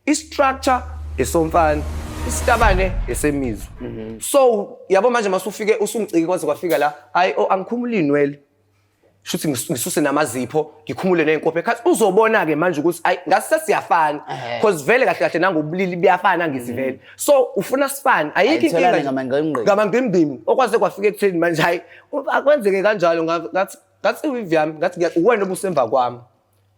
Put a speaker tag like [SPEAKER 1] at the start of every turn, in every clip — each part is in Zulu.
[SPEAKER 1] I-structure esomfana isitabane esemizwa mhm. so yabo manje masufike usungicike kwaze kwafika la hayi o oh, angikhumula inwele shuthi ngisuse namazipho ngikhumule nenkophe ekhathi uzobona ke manje ukuthi ayi ngase siyafana because vele kahle kahle nangobulili buyafana ngizivele mhm. so ufuna sifane ayikho inkinga ngama ngimbimi okwaze kwafika ekutheni manje hayi akwenzeke kanjalo ngathi ngathi uyivyami ngathi uwena obusemva kwami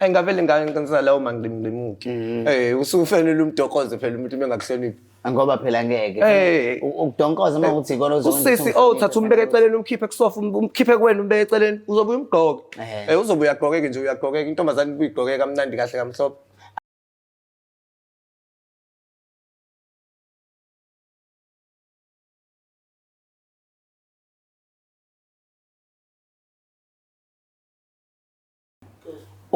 [SPEAKER 1] Hayi ngavele ngangenza lawo mangqimngqimuki. Mm. Eh usufanele umdokoze phela umuntu bengakuhloniphi. Ngoba phela ngeke.
[SPEAKER 2] Eh. U- Ukudonkoza uma ukuthi ikona ozokwenza Usisi ukuthi oh umsebenzi thatha umbeke ofanele.
[SPEAKER 1] eceleni umkhiphe kusofa um- umkhiphe kuwena umbeke eceleni uzobuya umgqoke. Eh. Eh uzobuya agqokeke nje uyagqokeka intombazane ibuyigqokeka kamnandi kahle kamhlophe.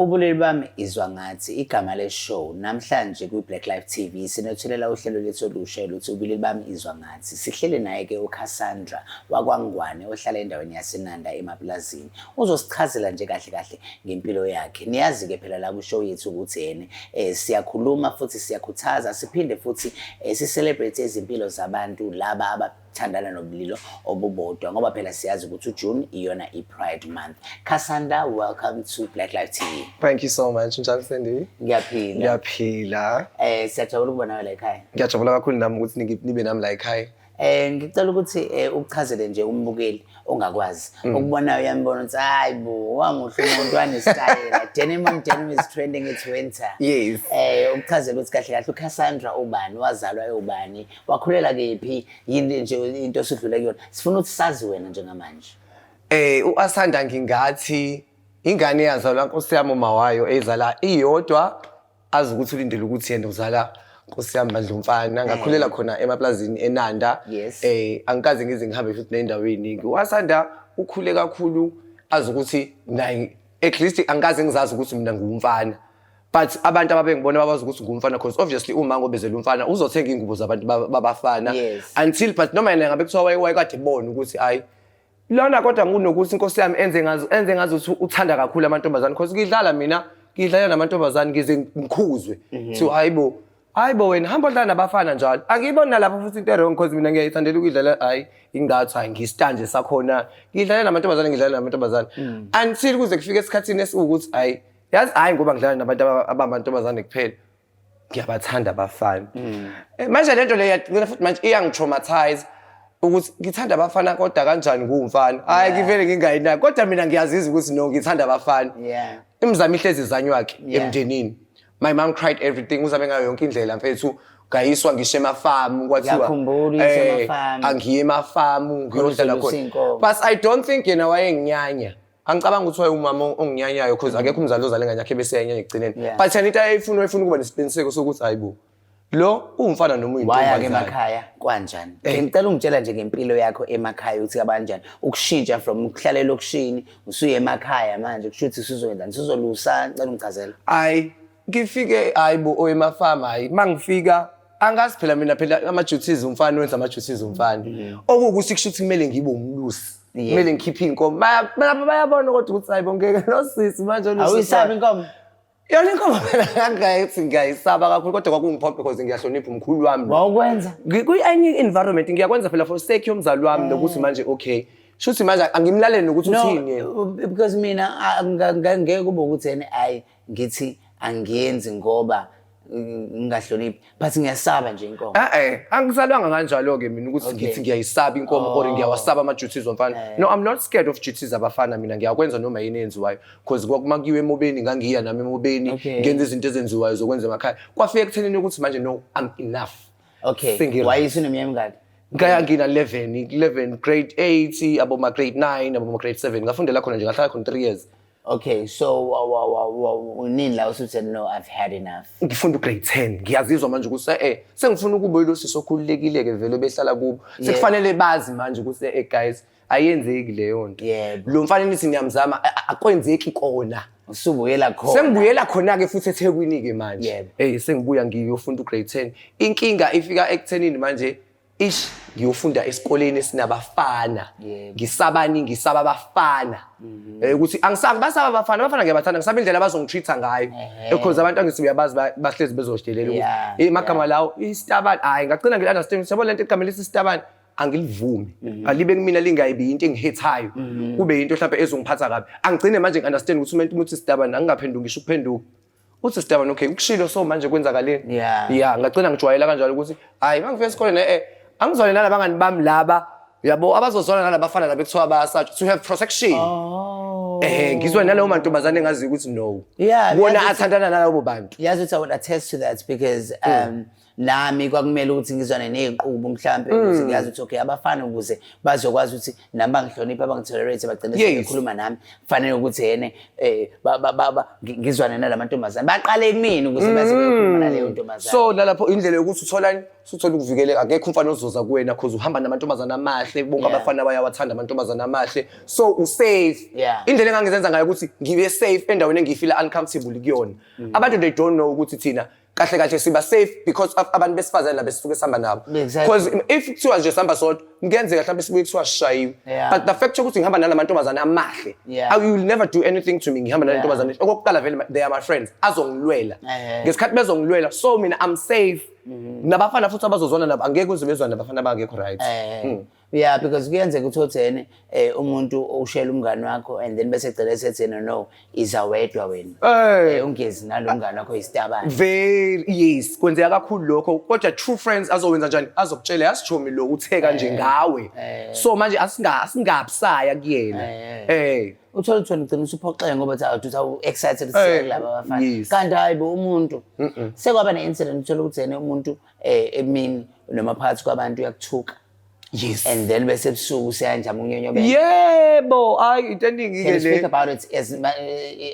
[SPEAKER 2] Ubulili bami izwa ngathi igama le show namhlanje kwi Black Life TV sinethulela uhlelo lethu olusha oluthi ubulili bami izwa ngathi sihlele naye ke uCassandra wakwangwane ohlala endaweni yaseNanda emaplazini uzosichazela nje kahle kahle ngempilo yakhe niyazi ke phela la ku show yethu ukuthi yene eh, siyakhuluma futhi siyakhuthaza siphinde futhi eh, si celebrate izimpilo zabantu laba aba thandana nobulilo obubodwa ngoba phela siyazi ukuthi uJune iyona i-Pride month. Kasanda, welcome to Black Life TV. Thank you so much
[SPEAKER 1] njalo Sandy. Ngiyaphila. Ngiyaphila. Eh siyajabula
[SPEAKER 2] ukuba nawe la ekhaya. Ngiyajabula kakhulu nami ukuthi
[SPEAKER 1] niki- nibe nami la ekhaya. Eh ngicela ukuthi
[SPEAKER 2] eh, uchazele nje umbukeli ongakwazi Mm. ukubonayo uyambona ukuthi hayi bo wanguhle umuntu wanesitayela denim on denim is trending it's winter Yes. eh
[SPEAKER 1] ukuchazela ukuthi
[SPEAKER 2] kahle kahle uCassandra ubani wazalwa ewubani wakhulela kephi yini nje into esidlule kuyona sifuna ukuthi sazi wena njengamanje eh uAsanda
[SPEAKER 1] ngingathi ingane yazalwa nkosi yami uma wayo eyizala iyodwa azi ukuthi ulindele ukuthi yena uzala nkosi yami bandla umfana ngakhulela eh. khona emaplazini enanda eh angikaze ngize ngihambe futhi nendaweni eningi uAsanda ukhule kakhulu azi ukuthi naye at least angikaze ngizazi ukuthi mina ngumfana but abantu ababengibona babazi ukuthi ngumfana because obviously uma ngobezela umfana uzothenga ingubo zabantu babafana yes. until but noma yena ngabe kuthiwa wayekade bona ukuthi hayi lona kodwa ngunokuthi inkosi yami enze ngazo enze ngazo ukuthi uthanda kakhulu amantombazane because ngidlala mina ngidlala namantombazane ngize ngikhuzwe mhm. so hayibo hayibo wena hamba odlala nabafana njalo angiyibona lapho futhi into erong because mina ngiyayithandela ukuyidlala hayi ingathi hayi ngisitanje sakhona ngidlala namantombazane ngidlala namantombazane mm. until kuze kufike esikhathini esiwukuthi hayi yazi hayi ngoba ngidlala nabantu aba- abamantombazane kuphela ngiyabathanda abafana Eh, manje lento le yagcina futhi manje iyangitraumatize ukuthi ngithanda abafana kodwa kanjani ngumfana hayi ngivele ngingayinaki kodwa mina ngiyaziza ukuthi no ngithanda abafana Yeah. imizamo ihlezi izanyu wakhe Yeah. emndenini my mom cried everything uzame ngayo yonke indlela mfethu ngayiswa ngisho emafamu kwathiwa Ngiyakhumbula uyiswa eh, emafamu. angiye emafamu ngiyodlala Khona khona usinkomo. but i don't think yena wayenginyanya angicabanga ukuthi wayewumama onginyanyayo because mm. akekho umzali ozale ngane yakhe bese yanyanya ekugcineni but yena into ayeyifuna wayefuna ukuba nesiqiniseko sokuthi hayi bo lo uwumfana noma uyintombazane emakhaya
[SPEAKER 2] kwanjani eh. ngicela ungitshela nje ngempilo yakho emakhaya ukuthi kabanjani ukushintsha from ukuhlala elokishini usuye emakhaya manje kusho ukuthi sizoyenzani sizolusa ngicela ungichazela hayi
[SPEAKER 1] ngifike hayi bo owemafama hayi mangifika angazi phela mina phela ama duties umfana wenza ama duties umfana mm. okukuthi kusho ukuthi kumele ngibe umlusi kumele ngikhiphe inkomo balapha bayabona kodwa ukuthi hayi bongeke nosisi manje olusi awuyisabi inkomo
[SPEAKER 2] yona inkomo
[SPEAKER 1] phela ngangayithi ngiyayisaba kakhulu kodwa kwakungiphoqa because ngiyahlonipha umkhulu wami wawukwenza
[SPEAKER 2] kwi-any
[SPEAKER 1] environment ngiyakwenza phela for sake yomzali wami eh. nokuthi manje okay shuthi manje angimlalele nokuthi uthini yena because mina
[SPEAKER 2] ngeke kube ukuthi yena ayi ngithi angiyenzi ngoba ngingahloniphi but ngiyasaba nje inkomo eh angizalwanga
[SPEAKER 1] kanjalo ke mina ukuthi ngithi ngiyayisaba inkomo or oh. ngiyawasaba ama duties omfana eh. no i'm not scared of duties abafana mina ngiyakwenza noma yini enziwayo because kwakuma kuyiwe emobeni ngangiya nami emobeni ngenza izinto ezenziwayo zokwenza emakhaya kwafika ekuthenini ukuthi manje no i'm enough okay wayisi
[SPEAKER 2] nomyeni ngani ngaya
[SPEAKER 1] ngina 11 11 grade 8 aboma grade 9 aboma grade 7 ngafundela khona nje ngahlala khona 3 years Okay, so
[SPEAKER 2] wa- wa- wa- wa- unini la usuthi no I've had enough. ngifunda ugrade
[SPEAKER 1] 10 ngiyazizwa manje ukuthi eh sengifuna ukuba yilo sisi okhululekile-ke vele behlala kubo sekufanele bazi manje ukuthi eh guys ayenzeki leyo nto Yebo. lo mfana nithi ngiyamzama a- a- akwenzeki kona Usubuyela khona.
[SPEAKER 2] sengibuyela khona-ke futhi
[SPEAKER 1] ethekwini-ke manje Yebo. eyi sengibuya ngiyofunda ugrade 10 inkinga ifika ekuthenini manje ish ngiyofunda esikoleni esinabafana ngisabani
[SPEAKER 2] ngisaba
[SPEAKER 1] abafana mhm. eh, ukuthi angisabi basaba abafana abafana ngiyabathanda ngisaba indlela abazongitreat-a ngayo because abantu angithi uyabazi bahlezi bezoshidelela ukuthi eh, magama lawo isitabani hhayi ngagcina ngili-understand ukuthi yabo le nto igama lesi isitabani angilivumi mhm. alibe kumina lingayibi into engihethayo mhm. kube yinto mhlawumbe ezongiphatha kabi angigcine manje ngi-understand ukuthi umuntu umuntu isitabani angingaphenduki ngisho ukuphenduka uthi sitabane okay ukushilo so manje kwenzakaleni ya yeah. ngagcina ngijwayela kanjalo ukuthi hayi mangifika esikoleni eh, eh angizwane nala bangani bami laba yabo abazozwana nala bafana laba kuthiwa bayasatshwa to have protection oh. eh ngizwa naleyo mantombazane engazi ukuthi no yeah, bona athandana nalabo bantu yazi ukuthi i would attest to
[SPEAKER 2] that because hmm. um mm. nami kwakumele ukuthi ngizwane ney'nqubo mhlawumpe hmm. ukuthi ngiyazi ukuthi okay abafana ukuze bazokwazi ukuthi nami bangihloniphe abangitolerate bagcine sebekhuluma nami kufanele ukuthi yene um ngizwane nala mantombazane baqale kumina ukuze baze hmm. beyokhuluma naleyo ntombazane so nalapho indlela yokuthi
[SPEAKER 1] utholani suthola ukuvikeleka akekho umfana ozoza kuwena cause uhamba namantombazane amahle bonke yeah. abafana bayawathanda amantombazane amahle so usafe yeah. indlela engangizenza ngayo ukuthi ngibe safe endaweni engiyifila uncomfortable kuyona mm. abantu they don't know ukuthi thina kahle kahle siba safe because of abantu besifazane laba esisuke sihamba nabo Exactly. because if kuthiwa nje sihamba sodwa kuyenzeka mhlawumbe sibuye kuthiwa sishayiwe Yeah. but the fact yokuthi ngihamba nala mantombazane amahle Yeah. I will never do anything to me ngihamba nala Yeah. ntombazane okokuqala vele they are my friends azongilwela Eh. ngesikhathi bezongilwela so mina I'm safe nabafana futhi abazozwana nabo angeke uze bezwane nabafana abangekho right Eh. Mm. yeah
[SPEAKER 2] because kuyenzeka ukuthi othene eh umuntu ushela umngane wakho and then bese egcela esethi no no iza wedwa wena eh, eh ungezi nalomngane wakho isitabane very yes
[SPEAKER 1] kwenzeka kakhulu lokho kodwa true friends azowenza njani azokutshela yasichomi lo uthe kanje eh, ngawe eh. so manje asinga asingabusaya kuyena eh uthola
[SPEAKER 2] ukuthi wena ugcina usuphoxeke ngoba uthi awuthi awu excited eh, laba bafana kanti hayi bo umuntu sekwaba ne incident uthola ukuthi yena umuntu eh emini noma phakathi kwabantu uyakuthuka Yes. And
[SPEAKER 1] then bese
[SPEAKER 2] busuku senja munyonyobela. Yebo,
[SPEAKER 1] hayi into eningi ke le. Speak about it as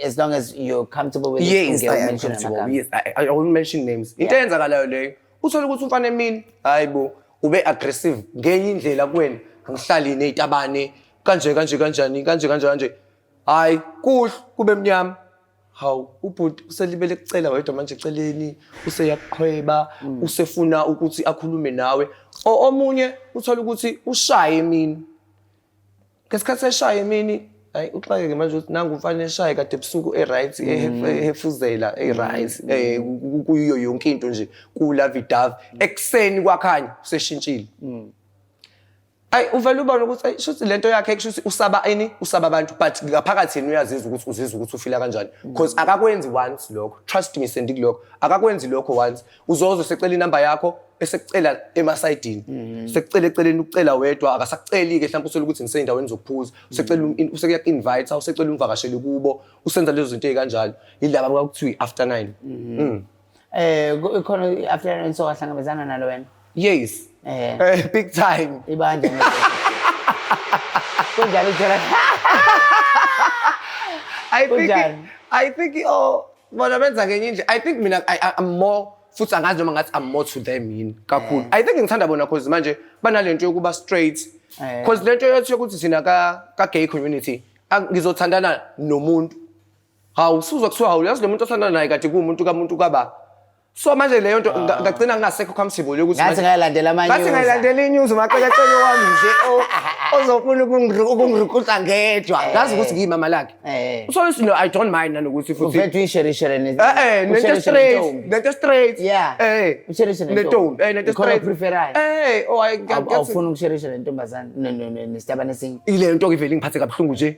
[SPEAKER 2] as long as you're comfortable with yes, it. I am comfortable.
[SPEAKER 1] Yes, I, I won't mention names. Into eyenzakalayo leyo. Uthole ukuthi umfana emini, hayibo, ube aggressive ngenye indlela kuwena. Angihlali nezitabane kanje kanje kanjani kanje kanje kanje. Hayi, kuhle kube mnyama. hawu ubhuti uselibele kucela wedwa manje eceleni useyakuqhweba mm. usefuna ukuthi akhulume nawe omunye uthola ukuthi ushaye emini ngesikhathi eshaye emini hayi uxakeke manje ukuthi nangu mfana eshaye kade ebusuku e-right mm. ehefuzela e-right mm. eh, kuyiyo yonke into nje kulavidavi ekuseni kwakhanya useshintshile ayi uvele ubone ukuthi ayi shuthi lento yakhe kushuthi usaba ini usaba abantu but ngaphakathi yena uyazizwa ukuthi uzizwa ukuthi ufila kanjani because akakwenzi once lokho trust me sendi kulokho akakwenzi lokho once uzozo secela inamba yakho esekucela emasayidini mm-hmm. sekucela eceleni ukucela wedwa akasakuceli ke mhlawumbe usele ukuthi ngiseyindaweni zokuphuza mm-hmm. usecela um, usekuya invite usecela umvakashele kubo usenza lezo zinto ezikanjalo yilaba kwakuthiwa after 9 mm-hmm. mm. Eh
[SPEAKER 2] khona i-afternoon so wahlangabezana nalo wena. Yes. Eh.
[SPEAKER 1] eh big time. Ibandla.
[SPEAKER 2] Kunjalo uthola.
[SPEAKER 1] I think I think oh bona benza ngenye nje. I think mina I, I'm more futhi angazi noma ngathi I'm more to them yini kakhulu. Eh. I think ngithanda bona cause manje banalento yokuba straight. Eh. Cause lento yokuthi thina ka ka gay community ngizothandana nomuntu Hawu suzwa kuthiwa hawu yazi lo muntu osanda naye kade kuwumuntu kamuntu kaba. So manje leyo nto nga- ngagcina ngingasekho comfortable ukuthi Ngathi manje- ngayilandela amanye. ngathi
[SPEAKER 2] ngayilandela inews
[SPEAKER 1] umaqekaqeke wami nje o- ozofuna ukungiru- ukungirukusa ngedwa. ngazi ukuthi ngiyimama lakhe. Eh. Uthole ukuthi no I don't mind nanokuthi futhi Uvethwe insherishere ne. Eh eh nento
[SPEAKER 2] usherishere straight, nentombi.
[SPEAKER 1] nento straight. Yeah. Eh.
[SPEAKER 2] Usherishe nentombi. Nentombi, eh nento
[SPEAKER 1] Ikhona straight. opreferayo. Eh,
[SPEAKER 2] oh I Awu- Awufuni ukusherisha nentombazane ne- ne- ne- nestabane esinye. ile nto ke ivele ngiphathe
[SPEAKER 1] kabuhlungu nje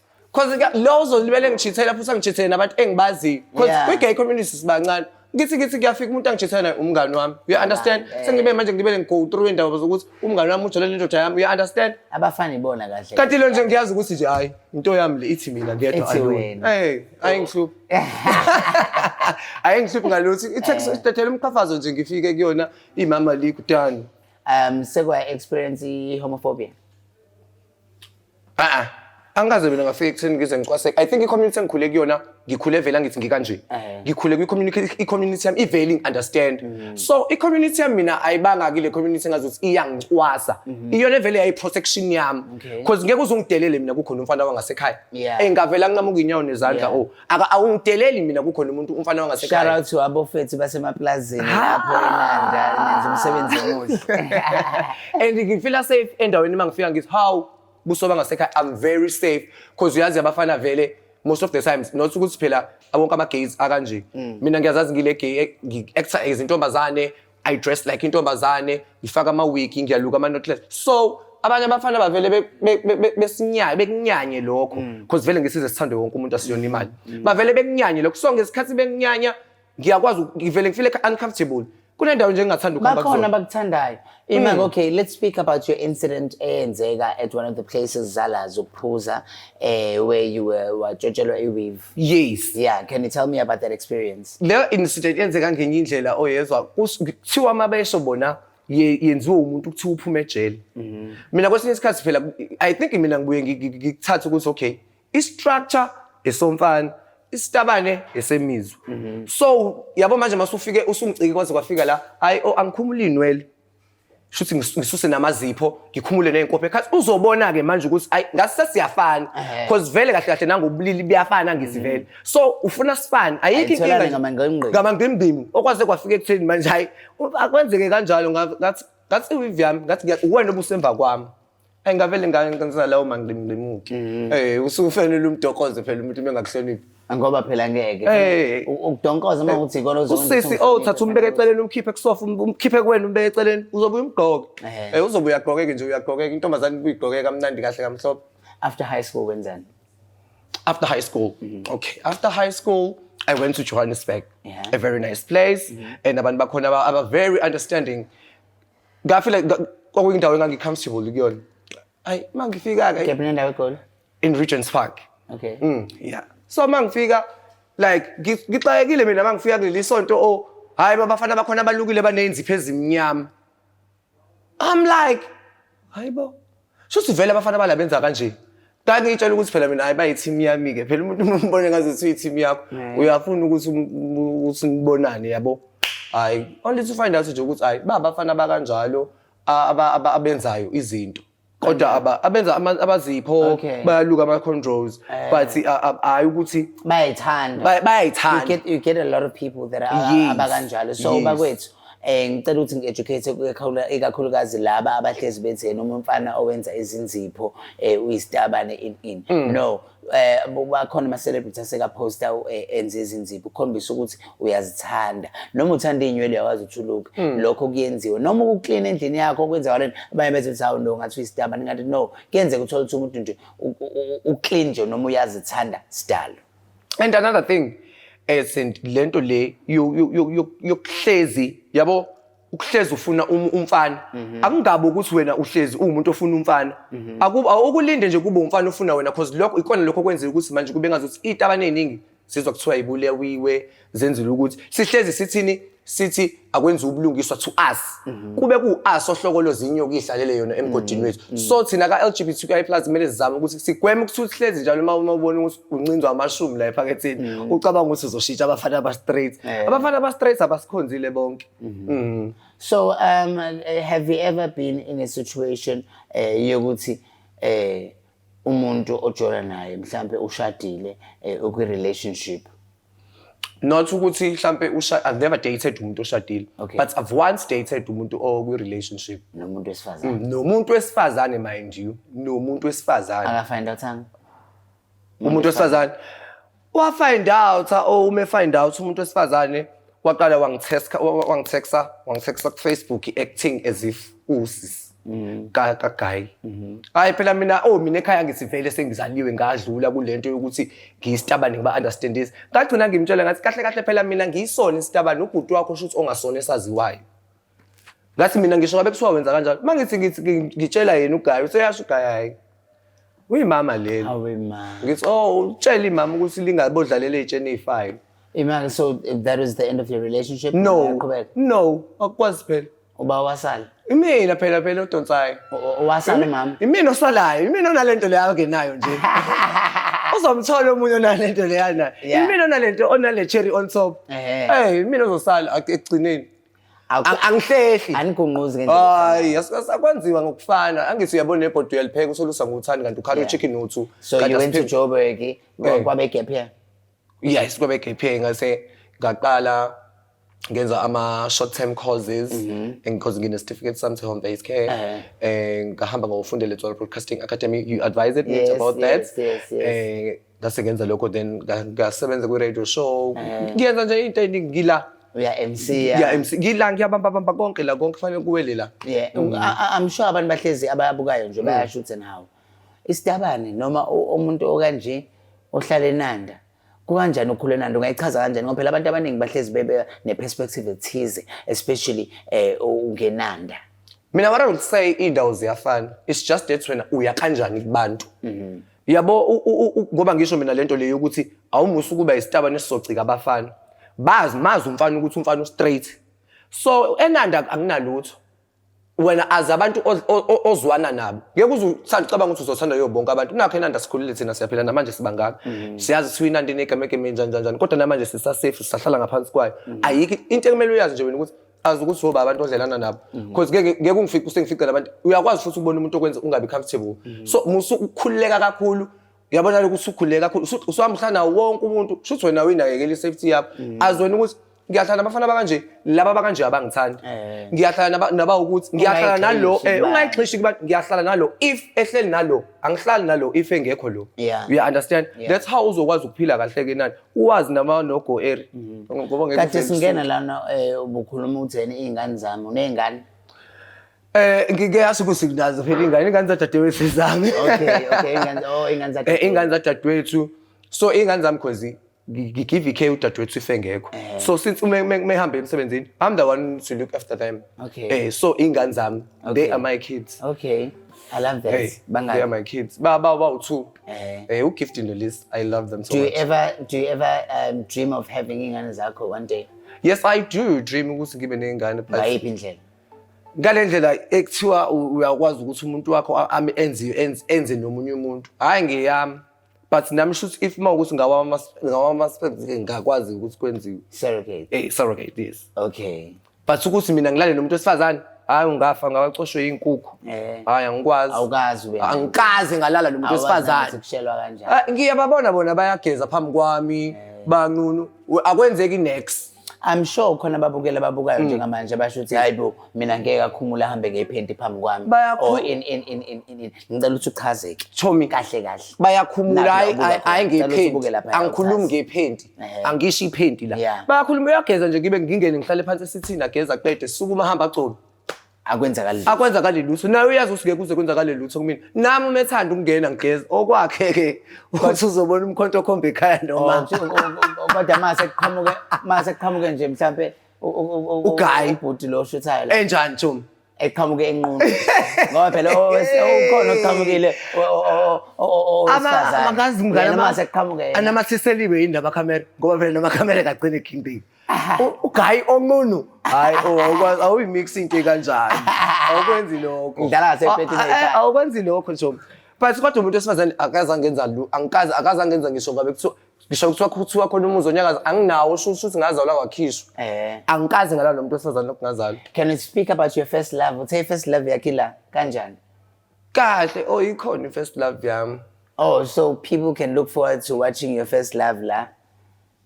[SPEAKER 1] Cause ka- lo uzolibele ngijithela futhi angijithele nabantu engibaziyo. Cause Yeah. kwi-gay community sibancane. Ngithi ngithi kuyafika umuntu angijithela naye umngani wami. You understand? Yeah. Sengibe manje ngibele ngi-go through indaba zokuthi umngani wami ujolele indoda yami. You understand? abafana ibona kahle
[SPEAKER 2] Kanti lo nje ngiyazi ukuthi
[SPEAKER 1] nje hayi into yami le ithi mina ngedwa Ithi alone. wena. Hey, ayingihluphi. Ayingihluphi ngalutho. Eh. Ithe sithethela umqhafazo nje ngifike kuyona imama likudani. um
[SPEAKER 2] sekwaya experience i-homophobia Ah,
[SPEAKER 1] angikaze mina ngafika ekutheni ngize ngicwaseke i think i-community engikhule kuyona ngikhule vele angithi ngikanje Eh. ngikhule kwi-community- i-community yami ivele ingi-understand Mm. so i-community yami mina ayibanga kile community engazi ukuthi iyangicwasa iyona evele yayi-protection yami Mm-hmm. Okay. because ngeke uze ungidelele mina kukhona umfana wangasekhaya Yeah. engavele anqamuke inyawo nezandla Yeah. o Aka awungideleli mina kukhona umuntu umfana Shout wangasekhaya. out to abofethu
[SPEAKER 2] basemaplazini lapho eNanda nenza umsebenzi omuhle. And
[SPEAKER 1] ngifila safe endaweni uma ngifika ngithi how kusoba ngasekhaya I'm very safe because uyazi abafana vele most of the times not ukuthi phela abonke ama gays akanje. Mina ngiyazazi ngile gay eh, ngi actor izintombazane I dress like intombazane, ngifaka ama-wig, ngiyaluka ama-knotless. So abanye abafana bavele be- be- be- be- besinyanye bekunyanye lokho because vele ngesize sithande wonke umuntu asiyona imali. Bavele bekunyanye lokho. So ngesikhathi bekunyanya ngiyakwazi uku- ngivele ngifile uncomfortable. Kunendawo nje engingathanda ukuhamba bakhona kuzona. abakuthandayo
[SPEAKER 2] imake okay let's speak about your incident eyenzeka at one of the places zala zokuphuza eh where you were watshotshelwa i-weave yes yeah
[SPEAKER 1] can you tell me about
[SPEAKER 2] that experience leyo incident
[SPEAKER 1] yenzeka ngenye indlela oyezwa kuthiwa uma besho bona ye- yenziwe umuntu kuthiwa uphume ejele mm-hmm. mina kwesinye isikhathi phela i think mina ngibuye ngi- ngi- ngikuthathe ukuthi okay i-structure esomfana isitabane esemizwa mm-hmm. so yabo manje masufike usungiciki kwaze kwafika la hayi o oh, angikhumuli inwele shuthi ngisuse namazipho ngikhumule nenkophe khathi uzobona ke manje ukuthi ay ngase sesiyafana because vele kahle kahle nangobulili buyafana ngizivele mm. so ufuna sifane ayikho inkinga ngama ngimbimu okwaze kwafika ekutheni manje hayi akwenzeke kanjalo ngathi ngathi uyivyami ngathi uwena obusemva kwami engavele ngangenza lawo mangqimngqimuki mm-hmm. eh usufanele umdokoze phela umuntu bengakuhloniphi ngoba phela ngeke
[SPEAKER 2] eh. ukudonkoza uma uthi ikona uzokwenza usisi oh thatha umbeke
[SPEAKER 1] eceleni umkhiphe kusofa um, umkhiphe kuwena umbeke eceleni uzobuya umgqoke eh. eh uzobe uyagqokeke nje uyagqokeka intombazane kuyigqokeka kamnandi kahle kamhlophe after high school
[SPEAKER 2] wenzani after
[SPEAKER 1] high school mm-hmm. okay after high school I went to Johannesburg, yeah. a very nice place, mm-hmm. and abantu bakhona aba very understanding. ngafile kwakuyindawo engangicomfortable kuyona hayi uma ngifika-ke kephi nendawo egoli
[SPEAKER 2] in regents park
[SPEAKER 1] okay mm,
[SPEAKER 2] yeah so
[SPEAKER 1] uma ngifika like ngixakekile mina uma ngifika kuleli sonto o oh, hhayi babafana bakhona abalukile baneyinzipho ezimnyama i'm like hhayi bo Shuthi vele abafana bala benza kanje. Kake itshela ukuthi phela mina hayi bayi team yami ke. Phela umuntu umbone ngaze siyi team yakho. Uyafuna ukuthi ukuthi nibonane yabo. Hayi, only to find out nje ukuthi hayi baba abafana bakanjalo abenzayo izinto. kodwa aba abenza abazipho bayaluka ama controls eh. but hayi ukuthi bayayithanda bayayithanda you get you get a lot
[SPEAKER 2] of people that are abakanjalo so bakwethu Eh ngicela ukuthi ngi-educate kuyakhawula ikakhulukazi laba abahlezi bethi yena umfana owenza izinzipho eh uyisitabane in in. Mm. No, eh bakhona ama celebrity aseka poster eh, enze izinzipho ukhombisa ukuthi uyazithanda. Noma uthanda inywele yawazi uthuluka. Mm. Lokho kuyenziwa. Noma ukuclean endlini yakho kwenza walena abanye bethi sawu no ngathi uyisitabane ngathi no kuyenzeka uthola ukuthi umuntu nje uclean nje noma uyazithanda sidalo. and another
[SPEAKER 1] thing as in lento le yokuhlezi yabo ukuhlezi ufuna um, umfana mhm. akungabe ukuthi wena uhlezi uwumuntu ofuna umfana mhm. awukulinde nje kube umfana ofuna wena because lokho ikona lokho kwenzeka ukuthi manje kube ngazuthi iy'taba ney'ningi sizwa kuthiwa yibulewiwe zenzile ukuthi sihlezi sithini sithi akwenziwa ubulungiswa to us mhm. kube ku-us ohlokolo zinyoka idlalele yona emgodini mhm. wethu mhm. so thina ka-lgbtqi plus kumele sizame ukuthi sigweme ukuthi uhlezi njalo uma uma ubona ukuthi uncinzwa amashumi la ephaketheni ucabanga ukuthi uzoshintsha abafana aba-straight eh. abafana aba-straight abasikhonzile bonke so
[SPEAKER 2] um have you ever been in a situation eh, yokuthi um umuntu ojola naye mhlawumbe ushadile eh, ukwi-relationship
[SPEAKER 1] not ukuthi mhlampe usha I've never dated umuntu oshadile Okay. but I've once dated umuntu okwi relationship nomuntu wesifazane
[SPEAKER 2] nomuntu wesifazane
[SPEAKER 1] mind you nomuntu wesifazane akafind
[SPEAKER 2] out ang umuntu
[SPEAKER 1] wesifazane wa find out ah, oh ume find out umuntu wesifazane waqala wangithesta wangitheksa wangitheksa ku Facebook acting as if usis mm. ka ka guy mm-hmm. hayi phela mina oh mina ekhaya ngisivele sengizaliwe ngadlula kulento yokuthi ngiyistabane ngiba understand this ngagcina ngimtshela ngathi kahle kahle phela mina ngiyisona istabane ubhuti wakho shuthi ongasona esaziwayo ngathi mina ngisho ngabe kuthiwa wenza kanjalo uma ngithi ngitshela yena ugayi useyasho ugayi hayi uyimama leli awe ma ngithi oh utshela imama ukuthi lingabodlalela iy'tsheni ey'fayo imali
[SPEAKER 2] so that is the end of your relationship
[SPEAKER 1] no
[SPEAKER 2] no
[SPEAKER 1] akukwazi
[SPEAKER 2] phela uba wasala imina phela phela
[SPEAKER 1] odonsayo wasala mama
[SPEAKER 2] imina osalayo imina
[SPEAKER 1] onalento leyo angenayo nje uzomthola omunye onalento leyo nayo imina onalento
[SPEAKER 2] onale
[SPEAKER 1] cherry on top eh imina ozosala ekugcineni Aku- angihlehli Anigunquzi ngendlela.
[SPEAKER 2] hayi yas- sakwenziwa
[SPEAKER 1] ngokufana angithi uyabona nebhodi uyalipheka usolusa nguthani kanti ukhala Yeah. uchicken uthu So you went to Joburg
[SPEAKER 2] eh, Yeah. kwabe gap here. yes kwabe
[SPEAKER 1] gap year ngase ngaqala ngenza ama short term courses and because ngine certificate sami home based care Mhm. Eh. eh ngahamba ngofundela eTswala Broadcasting Academy you advised me Yes, about that yes, yes, yes. eh
[SPEAKER 2] ngase ngenza lokho
[SPEAKER 1] then nga- ngasebenza kwi-radio show Eh. ngiyenza nje into eningi ngila uya MC ngiya
[SPEAKER 2] MC ngila
[SPEAKER 1] ngiyabambabamba konke la konke kufanele kuwele la yeah Mm.
[SPEAKER 2] I- I- I'm sure abantu bahlezi ababukayo nje bayasho ukuthi nawo isitabane noma u- umuntu okanje ohlala enanda kukanjani ukhula enanda ungayichaza kanjani ngoba phela abantu abaningi bahlezi bebe ne-perspective ethize especially eh ungenanda mina what
[SPEAKER 1] i would say iy'ndawo ziyafana it's just that wena uya kanjani kubantu yabo ngoba ngisho mina lento leyo ukuthi awumusa ukuba isitaba nesizocika abafana bazi mazi umfana ukuthi umfana ustraight so enanda anginalutho wena azi abantu ozwana nabo ngeke uzuthanda ucabanga ukuthi uzothanda yo bonke abantu nakho enanda sikhulile thina siyaphila namanje sibangaka mhm. siyazi siwina into inegamegeme njani njani kodwa namanje sisasafe sisahlala ngaphansi kwayo mhm. ayikho into ekumele uyazi nje wena ukuthi azi ukuthi soba abantu odlelana nabo mhm. because ngeke ngeke ungifice usengificela abantu uyakwazi futhi ukubona umuntu okwenza ungabi comfortable mhm. so musu ukukhululeka kakhulu uyabona lokho usukhululeka kakhulu usuhamhlana wonke umuntu shuthi wena uyinakekela isafety yakho mhm. azweni ukuthi ngiyahlala nabafana bakanje laba bakanje abangithandi eh. ngiyahlala naba ukuthi ngiyahlala nalo eh, ungayixhishi kubantu ngiyahlala nalo if ehleli nalo angihlali nalo if engekho lo you understand that's how uzokwazi ukuphila kahle ke nani uwazi nama no go area mhm. ngoba ngeke kathi singena lana
[SPEAKER 2] eh ubukhuluma utheni izingane zami unezingane Eh
[SPEAKER 1] ngike yazi ukuthi nginazo phela ingane ingane zadadewethu zami. Okay okay ingane oh ingane
[SPEAKER 2] zadadewethu. Eh
[SPEAKER 1] ingane zadadewethu. So ingane zami khozi ngigive care udadewethu ife ngekho eh. so since uma mehambe emsebenzini i'm the one to look after them okay eh so ingane zami they are my kids okay I
[SPEAKER 2] love that. Hey, Bangaki? they are my kids.
[SPEAKER 1] Ba ba ba two. Eh. Eh, u gift in the list. I love them so do much. Do you ever do you ever
[SPEAKER 2] um, dream of having ingane zakho one day? Yes, I do
[SPEAKER 1] dream ukuthi ngibe nengane but ngayiphi indlela?
[SPEAKER 2] Ngale ndlela
[SPEAKER 1] ekuthiwa uyakwazi ukuthi umuntu wakho ame enze enze nomunye umuntu. Hayi ngiyami. but nami shuthi if uma ukuthi ngawama ngawama sperms ke ngakwazi ukuthi kwenziwe surrogate eh
[SPEAKER 2] surrogate yes
[SPEAKER 1] okay but
[SPEAKER 2] ukuthi mina
[SPEAKER 1] ngilale nomuntu wesifazane hayi ungafa ngawacoshwe yinkukhu eh. hayi angikwazi awukazi wena
[SPEAKER 2] angikaze ngalala nomuntu
[SPEAKER 1] wesifazane kushelwa kanjani ah,
[SPEAKER 2] ngiyababona bona
[SPEAKER 1] bayageza phambi kwami eh. banqunu akwenzeki next I'm sure khona
[SPEAKER 2] babukela babukayo hmm. njengamanje basho ukuthi hayi bo mina ngeke akhumule ahambe ngephenti phambi kwami or in in in in in ngicela ukuthi uchazeke Chomi kahle kahle bayakhumula hayi
[SPEAKER 1] hayi ngephenti angikhulumi ngephenti eh. angisho iphenti la bayakhuluma uyageza nje ngibe ngingene ngihlale phansi esithini ageza qede sukuma hamba gcono akwenzakali lutho. akwenzakali lutho naye uyazi usuke kuze kwenzakale lutho kumina nami uma ethanda ukungena ngigeza okwakhe-ke uthi uzobona umkhonto okhomba ekhaya noma Nje, u- u- u- kodwa
[SPEAKER 2] mase kuqhamuke mase kuqhamuke nje mhlambe u- u- u- u- Ugayi.
[SPEAKER 1] ubhuti lo shuthayo
[SPEAKER 2] la enjani Juma
[SPEAKER 1] eqhamuke enqunu
[SPEAKER 2] ngoba phela owes- ukhona oqhamukile o- o- o- o- o-
[SPEAKER 1] owesifazane. Yena mase kuqhamuke yena.
[SPEAKER 2] anamathiseliwe yini
[SPEAKER 1] lamakhamera ngoba phela namakhamera kagcine ekhindile ugayi onqunu hayi awukwazi awuyimix into kanjani awukwenzi lokho ngidala ngasepeti
[SPEAKER 2] awukwenzi lokho nje
[SPEAKER 1] but kodwa umuntu wesifazane akazange enza lu angikaze akazange enza ngisho ngabe kuthiwa ngisho kuthiwa kuthiwa khona umuzi onyakaza anginawo sho ukuthi ngazalwa kwakhishwa eh angikaze ngalala nomuntu wesifazane lokungazalwa can you speak about
[SPEAKER 2] your first love uthe first love yakhe la kanjani kahle
[SPEAKER 1] oh ikhona first love yami oh so people
[SPEAKER 2] can look forward to watching your first love la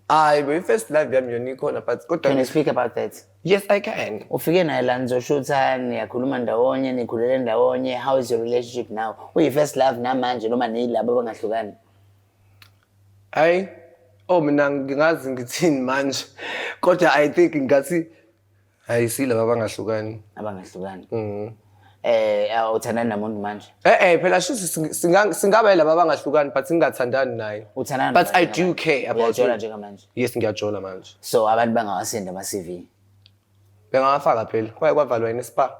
[SPEAKER 2] Hayi bo
[SPEAKER 1] i-first love yami yona ikhona but kodwa Can you speak about that?
[SPEAKER 2] yes I can.
[SPEAKER 1] Ufike naye la
[SPEAKER 2] nizoshutha, niyakhuluma ndawonye, nikhulele ndawonye. How is your relationship now? Uyi first love namanje noma niyilabo abangahlukani?
[SPEAKER 1] Hayi oh mina ngingazi ngithini manje kodwa I think ngathi hayi silaba abangahlukani abangahlukani
[SPEAKER 2] Mhm. eh awuthandani namuntu manje eh eh phela shuthi sing-
[SPEAKER 1] singa- singaba yilaba abangahlukani but singathandani naye uthandana But nabantu I do njengamanje? care about Uyajola you. njengamanje yes
[SPEAKER 2] ngiyajola manje
[SPEAKER 1] so abantu bangawasindi
[SPEAKER 2] ama-cv bengawafaka
[SPEAKER 1] phela kwaye kwavalwa yini spa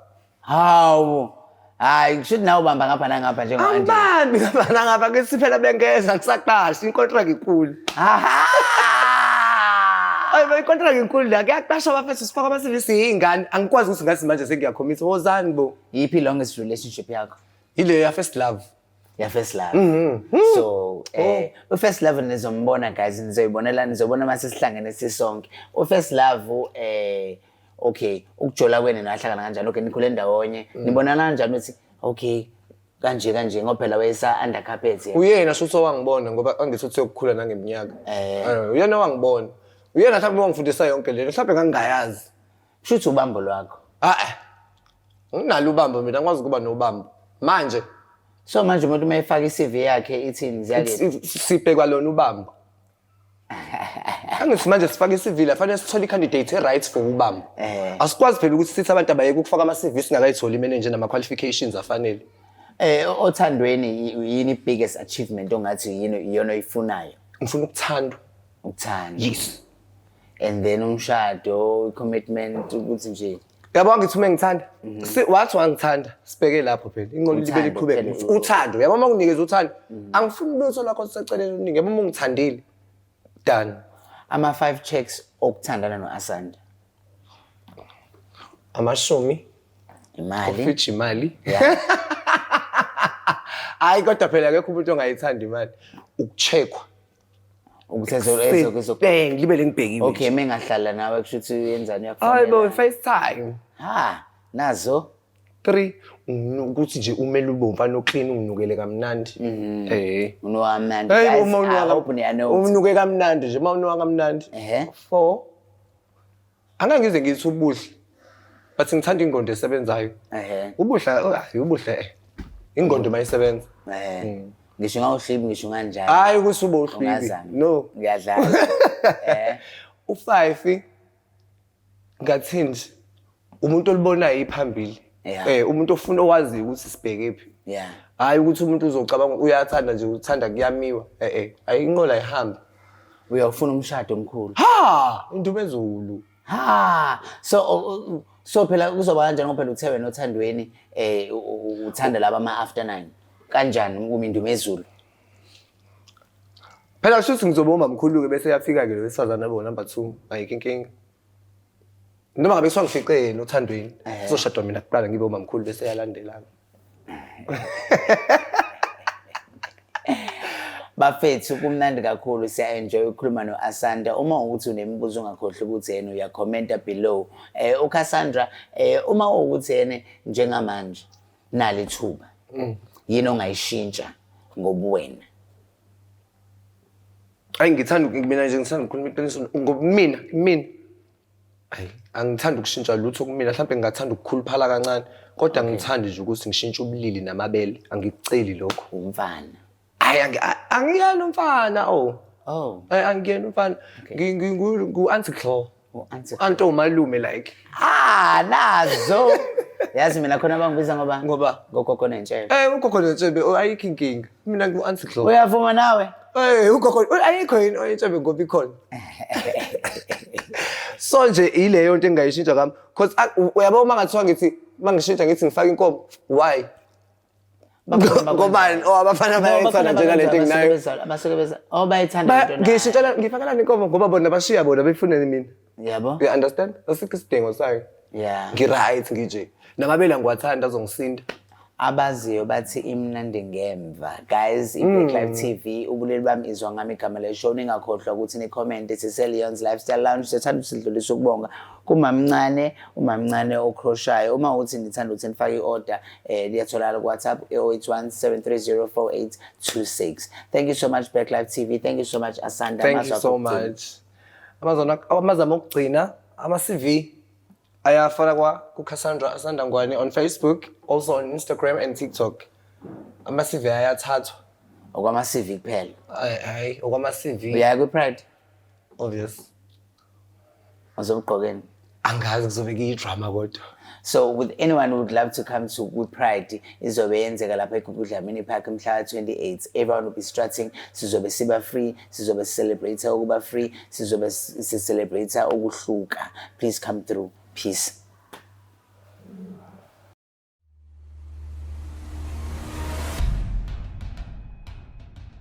[SPEAKER 1] Hawu.
[SPEAKER 2] Hayi kusho ukuthi nawe ubamba ngapha nangapha njengo Angie. Angibambi ngapha nangapha
[SPEAKER 1] ke siphela bengeza kusaqasha inkontraki inkulu. Aha! Ayi bayi contract inkulu la kuyaqasha abafethu sifaka ama CV siyingane angikwazi ukuthi ngathi manje sengiyakhomisa wozani bo Yiphi longest relationship
[SPEAKER 2] yakho? ile ya first
[SPEAKER 1] love ya first love
[SPEAKER 2] mm -hmm. so oh. eh oh. first love nizombona guys nizoyibonela nizobona mase sihlangene sisonke u first love eh okay ukujola kwenu nahlangana kanjani okay nikhule ndawonye mm. nibonana kanjani ukuthi okay kanje kanje ngoba phela wayesa under carpet yena uyena shuthi owangibona
[SPEAKER 1] ngoba angithi uthi ukukhula nangeminyaka eh. eh uyena wangibona uyena mhlawumbe wangifundisa yonke lento mhlawumbe ngangingayazi Shuthi ubambo
[SPEAKER 2] lwakho. Ah. eh.
[SPEAKER 1] Nginalo ubambo mina ngikwazi ukuba nobambo. Manje So manje
[SPEAKER 2] umuntu uma efaka i-CV yakhe ithini ziyake. si- si- sibhekwa lona
[SPEAKER 1] ubambo. Angithi manje sifake i-CV la fanele sithole i-candidate e-right for ubambo. Eh. Asikwazi phela ukuthi sithi abantu abayeke ukufaka ama-CV singakayitholi imene nje nama-qualifications afanele. Eh othandweni
[SPEAKER 2] y- yini biggest achievement ongathi yini iyona oyifunayo? Ngifuna ukuthandwa.
[SPEAKER 1] Ukuthanda. Yes. and then
[SPEAKER 2] umshado commitment ukuthi nje yabo ngithi uma ngithanda
[SPEAKER 1] mhm. si wathi wangithanda sibheke lapho phela inqondo libe liqhubeka uthando yabo uma kunikeza uthando mhm. angifuni lutho lakho siseceleni uningi yabo uma ungithandile done ama
[SPEAKER 2] five checks okuthandana noAsanda
[SPEAKER 1] amashumi imali
[SPEAKER 2] ofitshi imali
[SPEAKER 1] hayi kodwa phela akekho umuntu ongayithanda imali ukucheckwa ukuthi ezo- ezo- ezo- Bang, libe lengibhekile okay mengahlala nawe
[SPEAKER 2] kusho ukuthi uyenzani hayi bo uyakufonela
[SPEAKER 1] facetime ha nazo three unu- ukuthi nje umele ube umfana oklini unginukele kamnandi um
[SPEAKER 2] unowamnandi Hey, Guys, uma I unuka- hope niyanuka. umnuke kamnandi nje
[SPEAKER 1] uma unuka kamnandi Ehhe. four angangize ngithi ubuhle but ngithanda ingqondo esebenzayo ehe ubuhle oh, hayi ubuhle eh. ingqondo mayisebenza ehe mm.
[SPEAKER 2] ngisho ngawuhlibi ngisho nganjani hayi ukuthi ubohlibi
[SPEAKER 1] Ungazami. no ngiyadlala
[SPEAKER 2] eh ufive
[SPEAKER 1] ngathini nje umuntu olibonayo iphambili Yeah. Eh umuntu ofuna owazi ukuthi sibheke phi. Yeah. Hayi ukuthi umuntu uzocabanga uyathanda nje uthanda kuyamiwa. Eh eh ayinqola ihambe. Uyawufuna
[SPEAKER 2] umshado omkhulu. Ha indumezulu.
[SPEAKER 1] Ha so
[SPEAKER 2] uh, so phela kuzoba kanjani ngoba phela uthe wena othandweni eh uthanda laba ama after 9. Kanjani uma indumezulu?
[SPEAKER 1] Phela shuthi ngizobomba mkhulu ke bese yafika ke lo wesifazana bo number 2 ayike inkinga. noma ngabe kuthiwa ngifice yena othandweni eh. sizoshadwa mina kuqala ngibe umamkhulu bese yalandelana
[SPEAKER 2] bafethu kumnandi kakhulu siya-enjoy ukukhuluma no-asanda uma ukuthi unemibuzo ungakhohlwa ukuthi yena uyakhomenta below eh ucassandra eh uma ukuthi yena njengamanje nali thuba mm. yini ongayishintsha ngobuwena
[SPEAKER 1] Ayi ngithanda mina nje ngithanda ukukhuluma iqiniso ngobumina mina. Ayi angithandi ukushintsha lutho kumina mhlawumbe ngingathanda ukukhuluphala kancane kodwa ngithandi nje ukuthi ngishintshe ubulili namabele angikuceli lokho. Umfana.
[SPEAKER 2] Ayi angi- a-
[SPEAKER 1] angiyena umfana oh. Oh. Ayi angiyena umfana. Ngi- ngi- ngu- Ngu-auntie Claw. U-anti Anto umalume like. Ah, nazo.
[SPEAKER 2] Yazi mina khona bangibiza ngoba Ngoba? ngogogo nentshebe. Eh ugogo netsebe oh,
[SPEAKER 1] ayikho inkinga. Mina ngu Anti Glo. Uyavuma nawe?
[SPEAKER 2] Eh ugogo oh,
[SPEAKER 1] ayikho yini oyetsebe ngoba ikhona. So nje ileyo into engayishintsha kami because uyabo uma ngathiwa ngithi mangishintsha ngithi ngifaka inkomo why? ngobani o oh, abafana bayayithanda njengalento enginayo abasuke beza o oh,
[SPEAKER 2] bayithanda lento nayo ngisho tshela ngifakelani inkomo
[SPEAKER 1] ngoba bona bashiya bona befuneni mina yabo you understand
[SPEAKER 2] asikho
[SPEAKER 1] isidingo sayo yeah ngiright ngije namabela ngiwathanda azongisinda abaziyo
[SPEAKER 2] bathi imnandi ngemva guys i-black life hmm. tv ubuleli bami izwa ngami igama leshow ningakhohlwa ukuthi ni-comment siseleons lifestyle lounge sethanda usidlulisa ukubonga kumamncane umamncane okhroshayo uma uthi nithanda ukuthi nifake i-order eh liyatholakala ku-whatsapp 0817304826 thank you so much back live tv thank you so much asanda thank you so much
[SPEAKER 1] amazona amazama okugcina ama-cv ayafana kwa kucassandra asanda ngwane on facebook also on instagram and tiktok ama-cv ayathathwa okwama-cv
[SPEAKER 2] kuphela hayi
[SPEAKER 1] okwama-cv uyaya kwi-pride
[SPEAKER 2] obvious uzomgqokeni angazi kuzobe
[SPEAKER 1] kuyidrama kodwa so with anyone
[SPEAKER 2] who would love to come to kwipride izobe yenzeka lapha egugudlamini park mhla ka-28 everyone will be strutting sizobe siba free sizobe sicelebrate ukuba free sizobe sicelebrate ukuhluka please come through peace